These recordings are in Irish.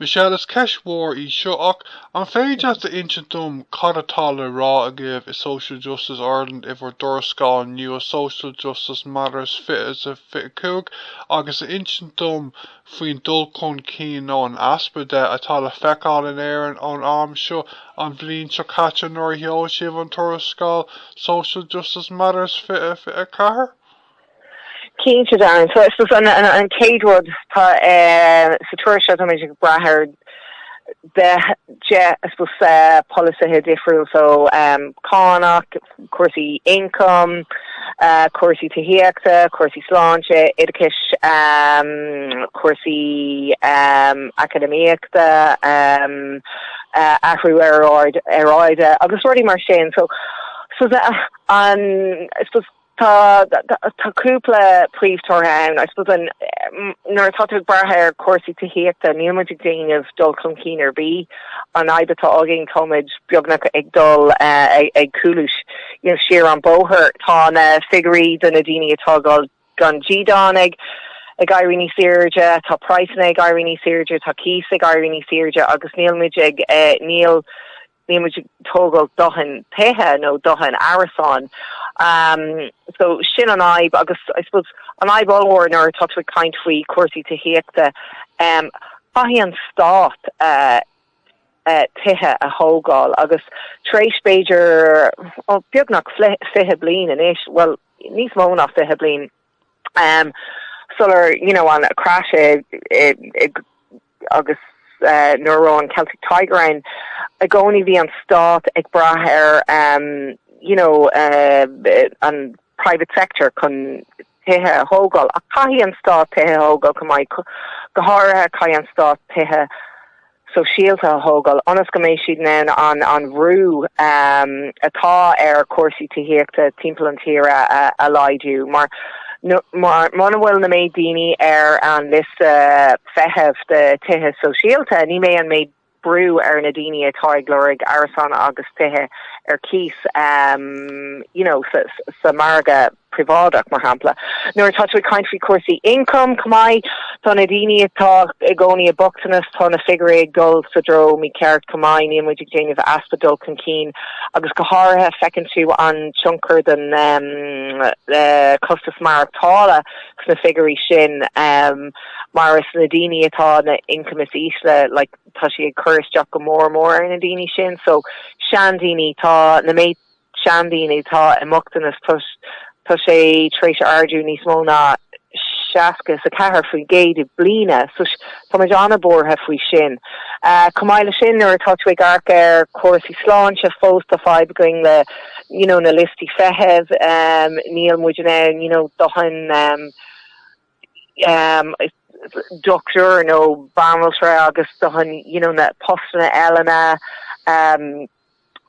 Michelle, is ceist mhór í seo, ach an féidir leat a insint dom cad atá le rá agaibh i Social Justice Ireland i bhur dtuarascáil nua Social Justice Matters 20 25 agus a insint dom faoin dul chun cinn, nó an easpa de, atá le feiceáil in Éirinn ón am seo an bhliain seo caite nuair a sheol sibh an tuarascáil Social Justice Matters 20, 24? Cinnte, Darren. So, I suppose, an, an, an chéad rud, tá, eh, sa tuairisc seo táimid ag breathnú ar de, deich, I suppose, eh, polasaithe difriúil. So, eh, cánach, cúrsaí ioncaim, eh, cúrsaí tithíochta, cúrsaí sláinte, oideachais, eh, cúrsaí, eh, acadamaíochta, eh, eh, athrú aeráide, aeráide agus rudaí mar sin. So, I suppose, eh, an, I suppose, Tá, tá cúpla príomhtortha ann. I suppose an, nuair atá tú ag breathnú ar chúrsaí tithíochta, níl muid ag déanamh dul chun cinn ar bith. An fhadhb atá againn, tá muid beagnach ag dul, ag cúlú, you know, siar an bóthar. Tá na figiúirí do na daoine atá gan dídeán ag, ag éirí níos airde, tá praghsanna ag éirí níos airde, tá cíos ag éirí níos airde agus níl muid ag, níl, Níl muid ag tógáil dothain tithe nó dothain árasáin. So sin an fhadhb agus I suppose an fhadhb ollmhór nuair atá tú ag caint faoi chúrsaí tithíochta, caithfidh an stát tithe a thógáil agus tar éis b'fhéidir beagnach fiche bliain anois, bhuel níos mó ná fiche bliain, sular you know an crash agus nuair a raibh an Celtic Tiger ann, i gcónaí bhí an stát ag brath ar you know an private sector chun tithe a thógáil ach caithfidh an stát tithe a thógáil chomh maith, go háirithe caithfidh an stát tithe. sóisialta a thógáil ionas go mbeidh siad in ann an an bhrú atá ar chúrsaí tithíochta timpeall an tíre a laghdú. Mar muna bhfuil na méid daoine ar an liosta feithimh do thithe sóisialta, ní bheidh an méid brú ar na daoine atá ag lorg árasán agus tithe ar cíos you know sa mhargadh. príobháideach. Mar shampla, nuair atá tú ag caint faoi chúrsaí ioncaim, chomh maith, tá na daoine atá i gcónaí i mbochtanas, tá na figiúirí ag dul sa dtreo mícheart, chomh maith, níl muid ag déanamh easpa dul chun cinn, agus go háirithe, feiceann tú an tionchar den chostas maireachtála sna figiúirí sin, mar is na daoine atá na ioncaim is ísle, like, tá sé ag cur isteach go mór mór ar na daoine sin, so, seandaoine, tá na. seandaoine atá i mbochtanas tá sé tar éis ardú níos mó ná seasca is a ceathair faoin gcéad i bliana so táimid an-bhuartha faoi sin. Chomh maith leis sin nuair atá tú ag amharc ar chúrsaí sláinte fós tá fadhb againn le you know na liostaí feithimh níl muid in ann you know dóthain dochtúir nó banaltra agus dóthain you know na postanna eile na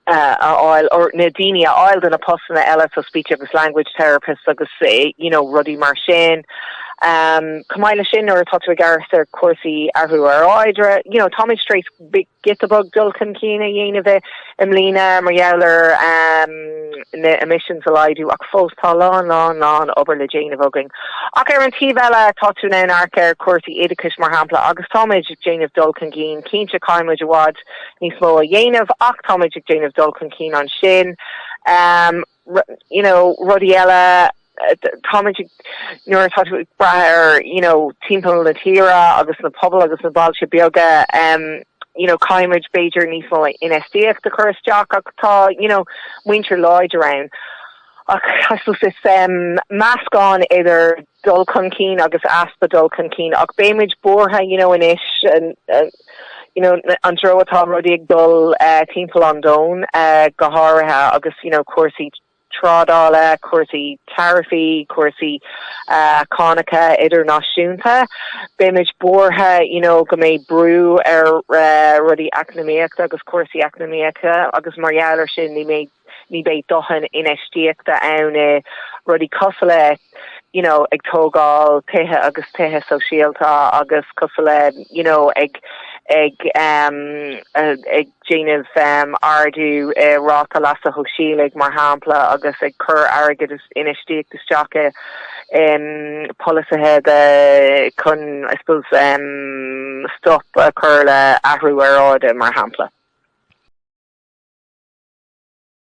a fháil, na daoine a fháil do na postanna eile, so speech agus language therapists agus you know rudaí mar sin. Chomh maith leis sin nuair atá tú ag amharc ar chúrsaí athrú aeráide, you know táimid tar éis giota beag dul chun cinn a dhéanamh i mbliana mar gheall ar na emissions a laghdú ach fós tá a lán lán lán obair le déanamh againn. Ach ar an taobh eile tá tú in ann amharc ar chúrsaí oideachais mar shampla agus táimid ag déanamh dul chun cinn, cinnte caithfimid i bhfad níos mó a dhéanamh ach táimid ag déanamh dul chun cinn ansin. you know rudaí eile táimid ag nuair atá tú ag breathnú ar you know timpeall na tíre agus na pobail agus na bailte beaga you know caithfimid b'fhéidir níos mó infheistíocht a chur isteach ach tá you know muintir láidir ann ach I suppose is meascán idir dul chun cinn agus easpa dul chun cinn ach beidh muid buartha you know anois you know an treo atá rudaí ag dul timpeall an domhain go háirithe agus you know cúrsaí trádála, cúrsaí taraifí, cúrsaí cánacha idirnáisiúnta. Beidh muid buartha you know go mbeidh brú ar rudaí eacnamaíochta agus cúrsaí eacnamaíochta agus mar gheall air sin ní mbeidh ní beidh dóthain infheistíochta ann i rudaí cosúil le you know ag tógáil tithe agus tithe sóisialta agus cosúil le you know ag ag um ag déanamh um ardú i ráta leasa shóisialaigh mar shampla agus ag cur airgead is infheistíocht isteach i polasaithe de chun, I suppose, stop a chur le athrú aeráide, mar shampla.